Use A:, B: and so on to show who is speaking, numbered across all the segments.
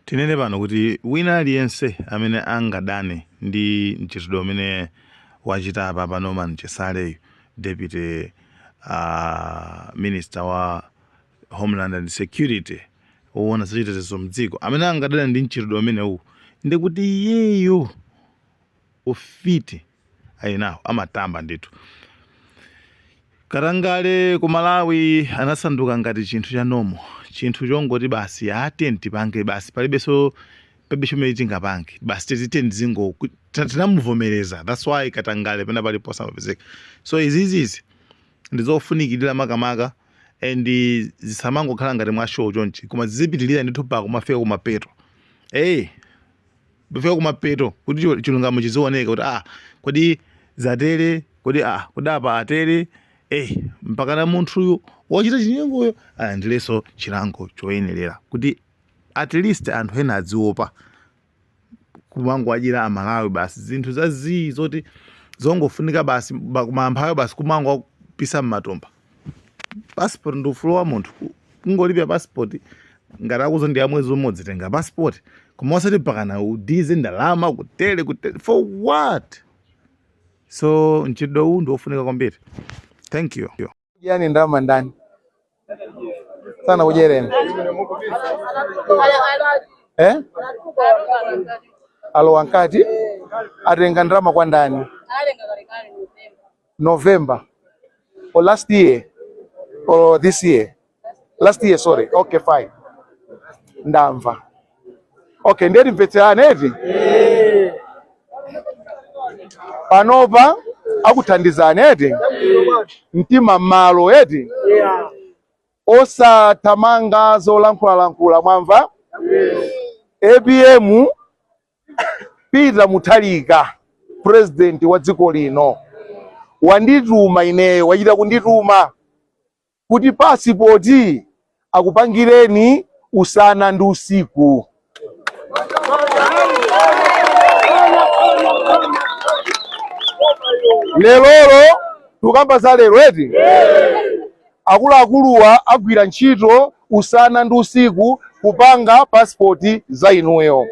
A: Tinene pano kuti wina aliyense amene angadane ndi mchitidwe umene wachita apapa Norman Chisaleyu, deputy uh, minister wa homeland and security owona zachitetezo mdziko amene angadane ndi mchitidwe umenewu ndikuti iyeyo ufiti alinawo amatamba ndithu katangale ku malawi anasanduka ngati chinthu cha normal chinthu chongoti basi aten tipange basi palibenso palibe chomwe tingapange basi tizitani zingoti tinamuvomereza thats why katangale pena pali posamapezeka so izizizi ndizofunikirira makamaka and zisamangokhala ngati mwa show chonchi koma zizipitirira ndithu pakumafika kumapeto hey, pofika kumapeto kuti chi- chilungamo chizioneka kuti ah kodi zatere kodi ah kodi apa atere eh mpakana munthuyu wochita chinyengoyo alandirenso chilango choyenerera kuti at least anthu ena adziopa kumangowadyera amalawi basi zinthu zazii zoti zongofunika basi ba- kumamphawi basi kumangowapisa mmatumba passport ndi ufulu wa munthu kungolipira passport ngati akuti ndi ya mwezi umodzi tenga passport koma osati mpakana udyetse ndalama kutere kutere for what so mchitidwe uwu ndi wofunika kwambiri thank you wadya ndalama
B: ndani sanakudyereni eh? alowa nkati atenga ndalama kwa ndani November or last year or this year last year sorry okay fine ndamva okay ndiye timvetserane eti panopa akuthandizani eti mtima m'malo eti osathamanga zolankhulalankhula mwamva apm Peter Mutharika president wa dziko lino wandituma ineyo, wachita kundituma kuti pasipoti akupangireni usana ndi usiku. Lerolo tukamba za lero eti Akuluakuluwa agwira ntchito usana ndi usiku kupanga pasipoti za inuyo.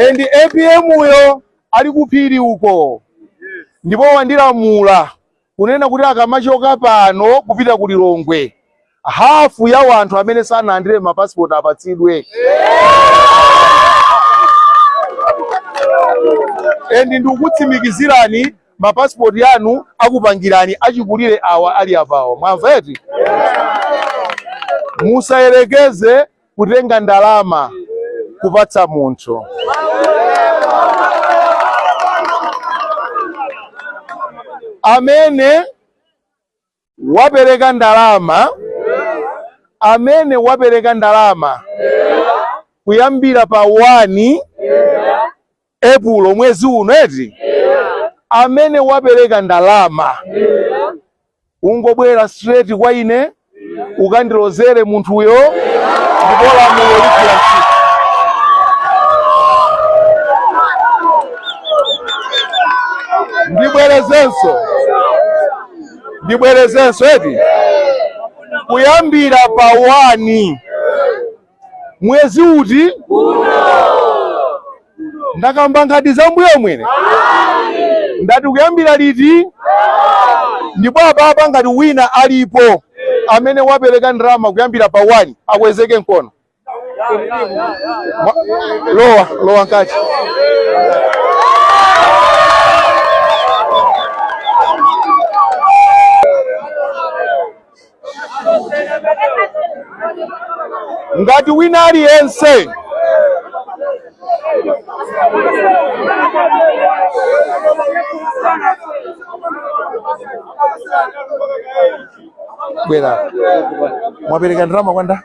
B: And apm yo ali kuphiri uko ndipo wandilamula kunena kuti akamachoka pano kupita ku Lilongwe hafu ya wanthu amene sanalandire mapasipoti apatsidwe endi ndikukutsimikizirani mapasipoti anu akupangirani achikulire awa ali apawo mwamva eti musayerekeze kutenga ndalama kupatsa munthu amene wapereka ndalama amene wapereka ndalama kuyambira pa 1 epulo mwezi uno eti amene wapereka ndalama ungobwera straight kwa ine ukandilozere munthuyo ndipo lamulo ligwira ntchito ndibwerezenso ndibwerezenso eti kuyambira pa wani mwezi uti ndakamba nkhani za mbuyo mwene ndati kuyambira liti ndipo apapa ngati wina alipo amene wapereka ndalama kuyambira pa wani akweze mkono lowa lowa mkati ngati wina aliyense bwera mwapereka ndalama kwa nda